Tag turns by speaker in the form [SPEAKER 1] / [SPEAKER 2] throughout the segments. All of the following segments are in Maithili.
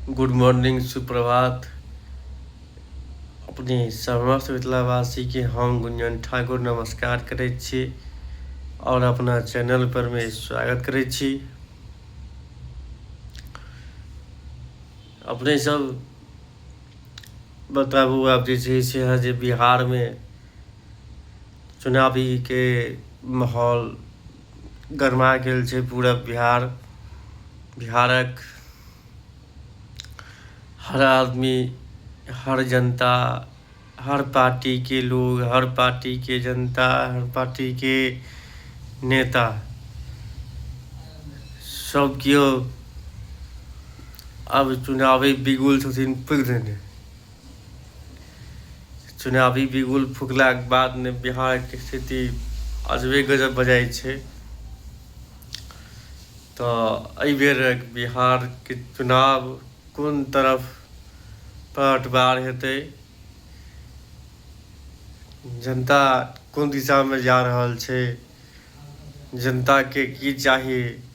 [SPEAKER 1] गुड मॉर्निंग सुप्रभात अपने समस्त मिथिलावासीके हम गुंजन ठाकुर नमस्कार करैत छी आओर अपना चैनल परमे स्वागत करैत छी अपने सब बताबू आब जे छै से अहाँ जे बिहारमे चुनावीके माहौल गरमा गेल छै पूरा बिहार बिहारक हर आदमी हर जनता हर पार्टीके लोग हर पार्टीके जनता हर पार्टीके नेता सब केओ आब चुनावे बिगुल छथिन फूकि देने चुनावी बिगुल फुकलाक बाद ने बिहारके स्थिति अजबे गजब भऽ जाइ छै तऽ एहि बेरक बिहारके चुनाव कोन तरफ पलटवार हेतै जनता कोन दिशामे जा रहल छै जनताके की चाही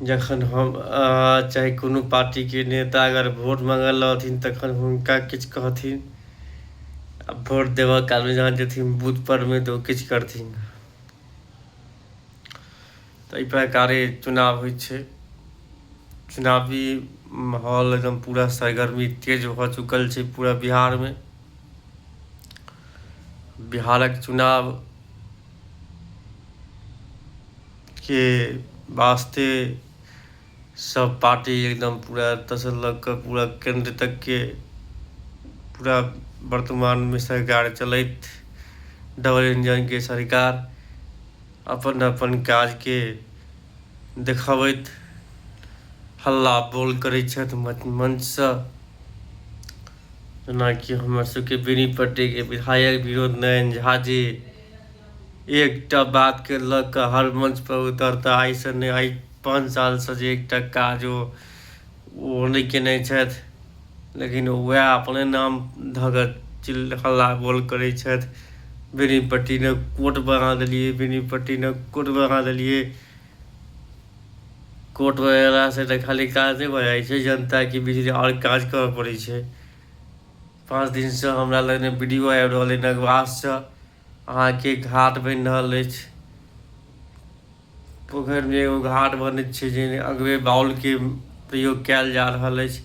[SPEAKER 1] जखन हम चाहे कोनो पार्टीके नेता अगर वोट माँगल रहथिन तखन हुनका किछु कहथिन आ वोट देबऽ कालमे जहाँ जेथिन बूथ परमे तऽ ओ किछु करथिन तऽ एहि प्रकारे चुनाव होइ छै चुनावी माहौल एकदम पूरा सरगर्मी तेज भऽ चुकल छै पूरा बिहारमे बिहारक चुनाव के वास्ते सब पार्टी एकदम पूरा एतऽसँ लऽ कऽ पूरा केन्द्र तकके पूरा वर्तमानमे सरकार चलैत डबल इंजनके सरकार अपन अपन काजके देखबैत हल्ला बोल करै छथि मंचसँ जेनाकि हमर सबके बेनीपट्टीके विधायक विनोद नयन झा जी एकटा बात के लऽ कऽ हर मंच पर उतरता आइ से नहि आइ पाँच साल से जे एकटा काज ओ ओ नहि केने छथि लेकिन वएह अपने नाम धऽ कऽ चिल हल्ला बोल करै छथि बेनीपट्टी ने कोर्ट बना देलियै बेनीपट्टी ने कोर्ट बना देलियै कोर्ट वगैरह से तऽ खाली काज नहि भऽ जाइ छै जनताके बीच आओर काज करऽ पड़ै छै पाँच दिनसँ हमरा लगने वीडियो आबि रहल अइ नगवाससँ अहाँके घाट बनि रहल अछि पोखरिमे एगो घाट बनैत छै जे अगबे बाउलके प्रयोग कयल जा रहल अछि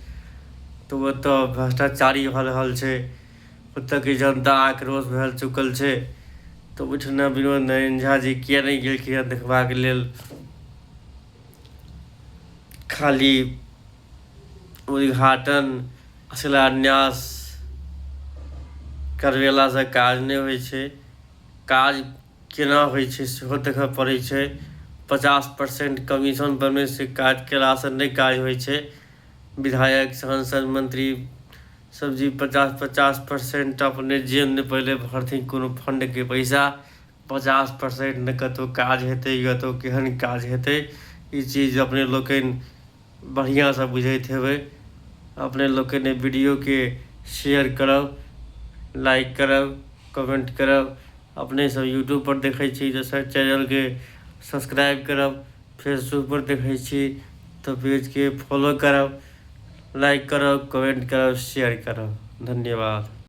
[SPEAKER 1] तऽ ओतऽ भ्रष्टाचारी भऽ रहल छै ओतऽके जनता आक्रोश भए चुकल छै तऽ ओहिठिना विनोद नारायण झा जी किए नहि गेलखिन देखबाक लेल खाली उद्घाटन शिलान्यास करबेलासँ काज नहि होइ छै काज केना होइ छै सेहो देखय पड़ै छै पचास परसेंट कमीशन बनयसँ काज केलासँ नहि काज होइ छै विधायक सांसद मंत्री सब जी पचास पचास परसेंट अपने जेब नहि पहिले भरथिन कोनो फंडके पैसा पचास परसेंट नहि कतहु काज हेतै कतहु केहन काज हेतै ई चीज अपने लोकनि बढ़िआँसँ बुझैत हेबै अपने लोकनि एहि वीडियोके शेयर करब लाइक करब कमेंट करब अपनेसभ यूट्यूबपर देखै छी तऽ सर चैनलके सब्सक्राइब करब फेसबुकपर देखै छी तऽ पेजके फॉलो करब लाइक करब कमेंट करब शेयर करब धन्यवाद